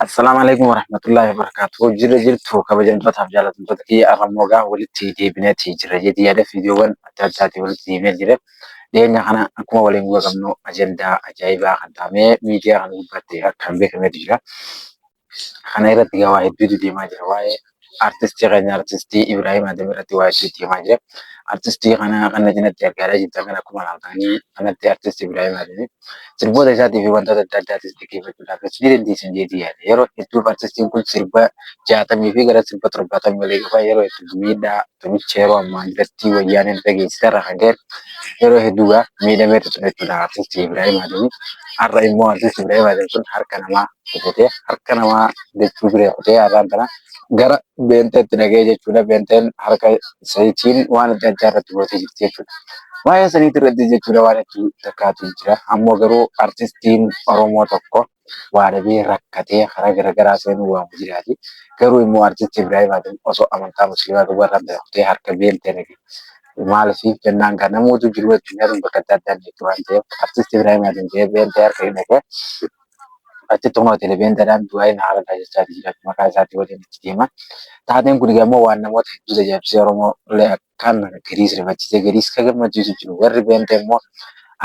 Assalaamu alaikum warahmatullahi wabarakatuh. Jirra jirtu kabajamtootaaf jaalatamtoota kiyya arrammoo gaa walitti deebineeti jirra jedhi yaada viidiyoowwan adda addaatiin walitti deebinee jira. Dhiyeenya kana akkuma waliin quba qabnu ajandaa ajaa'ibaa kan taa'amee miidiyaa kana gubbaatti akkaan beekameetu jira. Kana irratti egaa waa hedduutu deemaa jira. Waa'ee artistii keenya artistii Ibrahim Adam irratti waa hedduutu deemaa jira. Artistii kana kan na cinatti argaa jirtan kan akkuma ilaaltanii kanatti artistii Ibrahim Adam sirboota isaatii fi wantoota adda addaatis dhaggeeffachuudhaaf ni dandeessan jeetii yaada. Yeroo hedduuf artistiin kun sirba jaatamii fi gara sirba torbaatamii olii qaba. Yeroo hedduuf miidhaa tumicha yeroo ammaa irratti wayyaaneen irra geessite irra kan ka'e yeroo hedduu gaa miidhameetu ture jechuudha artistii Ibrahim Adam. Har'a immoo artistii Ibrahim Adam sun harka namaa kutee harka namaa jechuu biree kutee har'aan tana gara beenteetti dhaga'ee jechuudha. Beenteen harka isaaniitiin waan adda addaa irratti gootee jirti jechuudha. Waa'ee saniitti irratti jechuudha waan itti takkaatu jira. Ammoo garuu artistiin Oromoo tokko waa dhabee rakkatee karaa garaagaraa seenuu waamu jiraati. Garuu immoo artistii Ibrahim Adam osoo amantaa musliimaa qabu irraa bira kutee harka beentee dhage. Maaliif jennaan gaa namoota jiru addunyaa tun bakka adda addaa jirti waan ta'eef artistii Ibrahim Adam ta'ee beentee harka hin dhage. Achitti kunoo Telebeendadhaan du'aayi na haala taasisaati jira maqaa isaatii waliin itti deema. Taateen kun ammoo waan namoota hedduu tajaajibsee Oromoo illee akkaan gadiis rifachiisee gadiis ka gammachiisu jiru. Warri Beentee immoo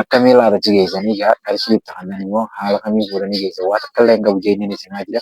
akkamii laata achi geessanii gaa qarshii itti kannan immoo haala kamiin fuudhanii geessan waa takka illee hin qabu jeenyanii simaa jira.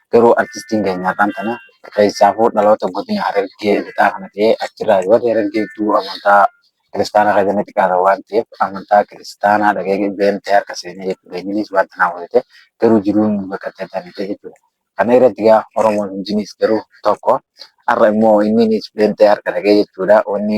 Garuu artistiin keenya har'aan tana keessaafuu dhaloota godina Harargee lixaa kana ta'ee achirraa warri Harargee hedduu amantaa kiristaanaa irra ganna xiqqaata waan ta'eef amantaa kiristaanaa dhagee beeltee harka seenee jechuudha. Inninis wanta naa hojjete garuu jiruun baqattee taanite jechuudha. Kana irratti gaa Oromoon hundinis garuu tokko har'a immoo inninis beeltee harka dhagee jechuudha. Wanni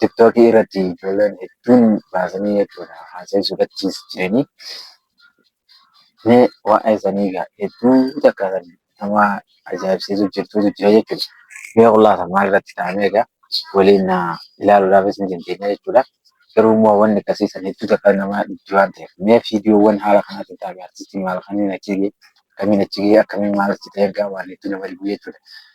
TikTok irratti ijoolleen hedduun baasanii jechuudha haasa'ii sodachiis jiranii. Mee waa'ee sanii egaa hedduu takka kan nama ajaa'ibsiisu jirtuutu jira jechuudha. Mee qullaasa maal irratti ta'amee egaa waliin ilaaluudhaafis ni dandeenya jechuudha. Garuu immoo wanni akkasii san hedduu takka nama dhibdi waan ta'eef. Mee viidiyoowwan haala kanaatiin ta'ame artistiin maal kamiin achi ga'e akkamiin achi ga'e akkamiin maal achi ta'e egaa waan hedduu nama dhibu jechuudha.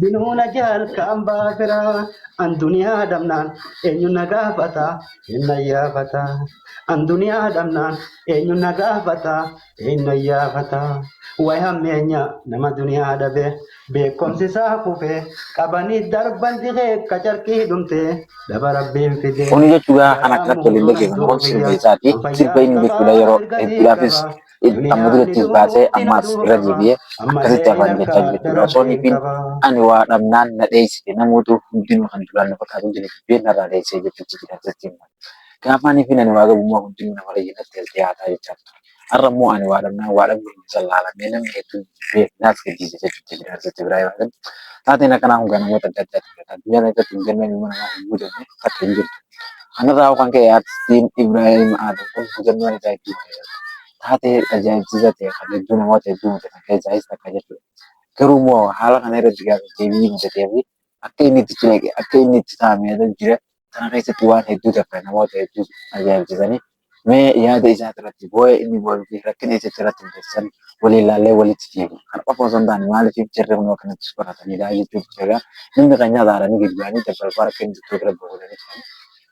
Binuuna jaal kaan baafiraa an duniyaa dhabnaan eenyu na gaafata eenna yaafata an duniyaa dhabnaan eenyu na gaafata eenna yaafata way hammeenya nama duniyaa dhabe beekomsi isaa kufee qabanii darban dikee qacarqii dhumtee daba rabbiin fidee Kun jechuudha kan akka Jalaa tolillee keessan kun sirba isaati. Sirba inni jechuudha yeroo hedduudhaafis amma durattis baasee ammaas irra deebi'ee akkasitti afaan jechaa jira jechuudha. Osoo nifiin ani waa dhabnaan na dheessite namoota hundinuu kan duraan na fakkaatu jira jibbee narraa dheessee jechuutti jira akkasitti immoo. Gaafa nifiin ani waa gabummaa hundinuu namarra jiratti as dhiyaataa jechaa ture. Har'a immoo ani waa dhabnaan waa dhabuu hin jallaalamee namni hedduun jibbee naas gadhiise jechuutti jira akkasitti biraa yoo ta'u. Taateen akkanaa kun kan namoota adda addaati. Addunyaa irratti hin galmee ilma namaa hin guutamne takka hin jirtu. Kanarraa kan ka'e artistiin Ibraahim Aadam kun hojannoo ajaa'ibsiisaa taatee ajaa'ibsiisaa ta'e kan hedduu namoota hedduu mudatan keessaayis takka jechuudha. Garuu immoo haala kana irratti gaaffii deebii mudatee fi akka inni itti cileeqe akka inni itti taa'ame jira. Kana keessatti waan hedduu takka namoota hedduu ajaa'ibsiisanii Mee yaada isaa irratti boo'ee inni boo'uu fi rakkina isa irratti mudatan waliin laallee walitti fiigu. Kan qofa osoo hin taane maaliif jarri kun akkanatti soraataniidha jechuuf jeegaa namni kan nyaata haaranii gadi ba'anii dabbalbaa rakkina jirtu irra bu'uuranii turan.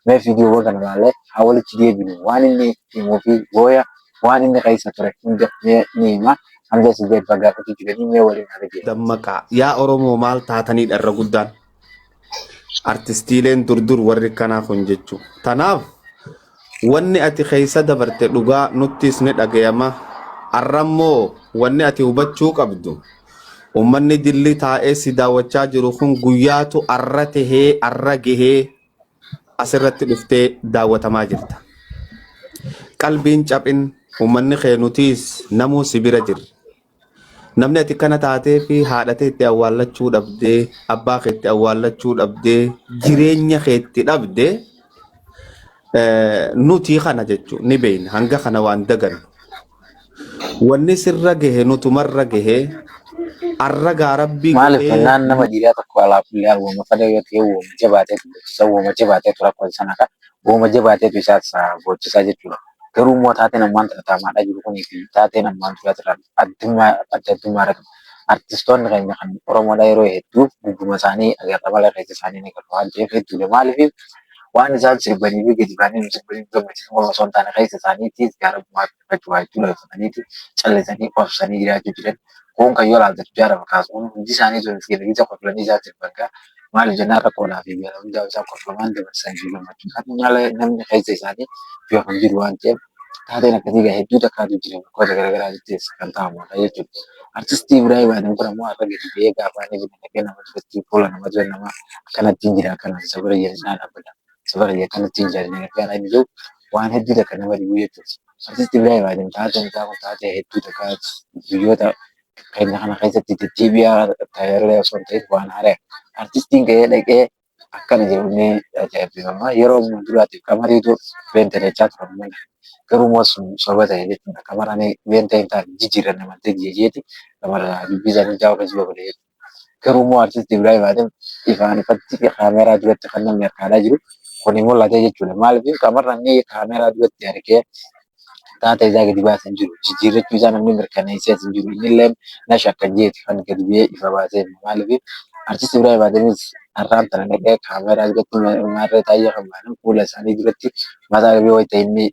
Mee viidiyoowwan kana laallee haa walitti deebinu. Waan inni himuu fi booya waan inni keessa ture hunda mee ni hima. Hamza Sideed Baggaa Kutu Jiranii mee waliin haa dhageeffattu. Dammaqaa! Yaa Oromoo maal taataniidha irra guddaan? artistiileen dur dur warri kanaa kun jechuu tanaaf wanni ati keessa dabarte dhugaa nuttis ni dhagayama arrammoo wanni ati hubachuu qabdu ummanni dilli taa'ee si daawwachaa jiru kun guyyaatu arra tahee arra gahee asirratti dhuftee daawwatamaa jirta qalbiin caphin ummanni kee nutiis namuu si bira jirra Namni ati kana taatee fi haadha teetti awwaallachuu dhabdee, abbaa keetti awwaallachuu dhabdee, jireenya keetti dhabde nuti kana jechuun ni beekna. Hanga kana waan dagannu. Wanni sirra gahe nutumarra gahe arra gaa rabbi Maaliif godhee jennaan nama dhiiraa tokko alaa kulli haal wooma fedhe yoo ta'e wooma jabaatee bulchisa wooma jabaatee tura kun sana ka Wooma jabaateetu isa boochisaa jechuudha. Garuu immoo taateen ammaan tana taa'amaa jiru kunii fi taateen ammaan duraatirraa addummaa adda addummaa irra qaba. Artistoonni keenya kan Oromoodhaa yeroo hedduu gubbuma isaanii agarra malee keessa isaanii hin agarru waan ta'eef hedduudha. Maaliif waan isaan sirbanii fi gadi baanii nu sirbanii nu gammachiisan qofa osoo hin taane keessa isaaniitiis gaarummaa fi dhiphachumaa jechuun dhaggeeffataniiti callisanii obsanii jiraachuu jiran kun kan yoo ilaaltan jaarama kaasuun hundi isaanii sun fiirii tokko filanii isaa sirbangaa maaliif jennaan rakkoonaa fi beela hundaa isaa kolfamaan dabarsan fi gammachuu kan malee namni keessa isaanii yoo kan jiru waan ta'eef taateen akkasii gaa hedduu takkaatu jira bakkoota garaagaraa jettees kan ta'amu akka jechuudha. Artistii Ibrahim Adam kun ammoo har'a gadi ba'ee gaafa inni fi dhaqee nama duratti fuula nama dura nama akkanattiin jira akkanaan isa bira jira cinaa dhaabbata. Sabara biyya kanatti hin jaallanne gargaara inni jedhu waan hedduu takka nama dhibu jechuudha. Artisti Ibraahim Aadam taatee mucaa kun taatee hedduu takka biyyoota keenya kana keessatti deddeebi'aa ta'ellee osoo hin ta'in waan haaraya. Artistiin gahee dhaqee akkana jedhamee ajaa'ibbifama. Yeroo ammaa duraatiif qamariitu beenta jechaa turan malee garuu immoo sun soba ta'e jechuudha. Qamaraan beenta hin taane jijjiirranna malte jeeti qamara dubbii isaanii jaawaa keessa babal'ee jechuudha. Garuu immoo artisti Ibraahim Adam ifaan ifatti kaameeraa duratti kan namni harkaalaa jiru kuni mul'ate jechuudha. Maaliif qaama namni kaameeraa duratti harkee taata isaa gadi baasa hin jiru. Jijjiirrachuu isaa namni mirkaneessee hin jiru. Inni illee na shakka jeeti kan gadi ba'ee ifa baasee maaliif artisti Ibraahim Adamis har'aan tana dhaqee kaameeraa duratti maarree taa'ee kan baanan fuula isaanii duratti mataa dhabee wayita inni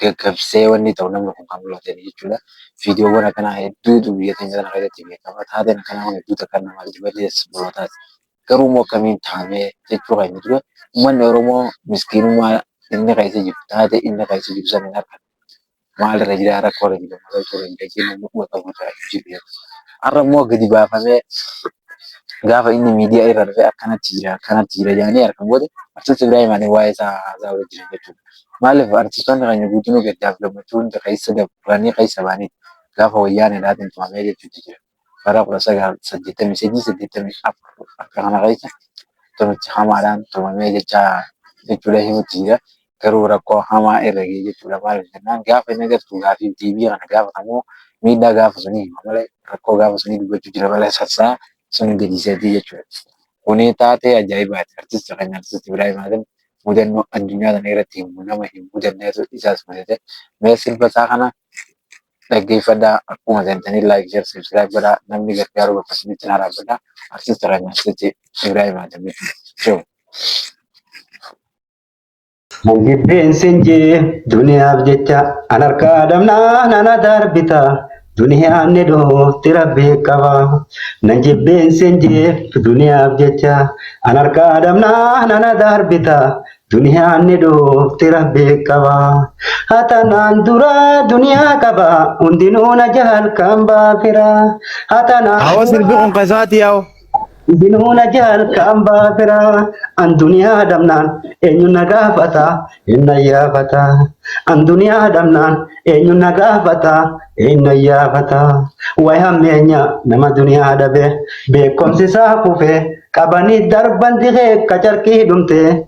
gaggabsee wanni ta'u namni kun kan mul'atani jechuudha. Viidiyoowwan akkanaa hedduutu biyya keenya kana keessatti beekama. Taateen akkanaa kun hedduu takka nama jibbisiisas bootaati. Garuu immoo akkamiin taamee jechuu keenya dura uummanni Oromoo miskiinummaa inni keessa jiru taatee inni keessa jiru sana hin argatu. Maalirra jira rakkoorra jira maalirra jira jennee namni quba qabu irraa hin jiru jedhu. Har'a immoo gadi baafamee gaafa inni miidiyaa irra dhufee akkanatti jira akkanatti jira jedhanii argan booda Artisti Ibraahim Alii waa'ee isaa haasa'aa jira jechuudha. Maaliif artistoonni keenya guutinuu gaddaaf gammachuu hunda keessa dabranii keessa ba'aniiti. Gaafa wayyaaneedhaatiin tumamee jechuutti jira. Bara 1983, 84 akka kana keessa tumichi hamaadhaan tumamee jechaa jechuudha himutti jira. Garuu rakkoo hamaa irra ga'e jechuudha. Maaliif jennaan gaafa inni agartu gaafii fi deebii kana gaafatamu miidhaa gaafa sunii hima malee rakkoo gaafa sunii dubbachuu jira malee sassaa sun gadiiseetii jechuudha. Kuni taatee ajaa'ibaati. Artisti keenya Artisti Ibraahim Aadan mudannoo addunyaa kana irratti himu nama hin mudanneetu isaas mudate. Mee sirba isaa kana dhaggeeffadhaa akkuma seentanii laayik sheer sabskiraayib godhaa namni gargaaruu bakka isinitti naa dhaabbadha. Artisti Raajaansiti Ibraahim Aadamii Shew. Jibbeen sin jee duniyaaf jecha an harkaa dhabnaan ana darbita. Duniyaan ni dhufti rabbi qaba. Nan jibbeen sin jibbu duniyaaf jecha. An harkaa dhabnaan ana darbita. Duniyaan ni dhufti rabbi qaba. Hatanaan dura duniyaa qaba. Hundinuu na jaal kan baafira. Hatanaan Awo sirbi kun kasati yawo. Binuuna jaalka ambaa firaa an duniyaa dhabnaan eenyu na gaafata hin na yaafata an duniyaa dhabnaan eenyu na gaafata hin na yaafata way hammeenya nama duniyaa dhabe beekomsi isaa kufee qabanii darban dikee kacarkii dhumtee.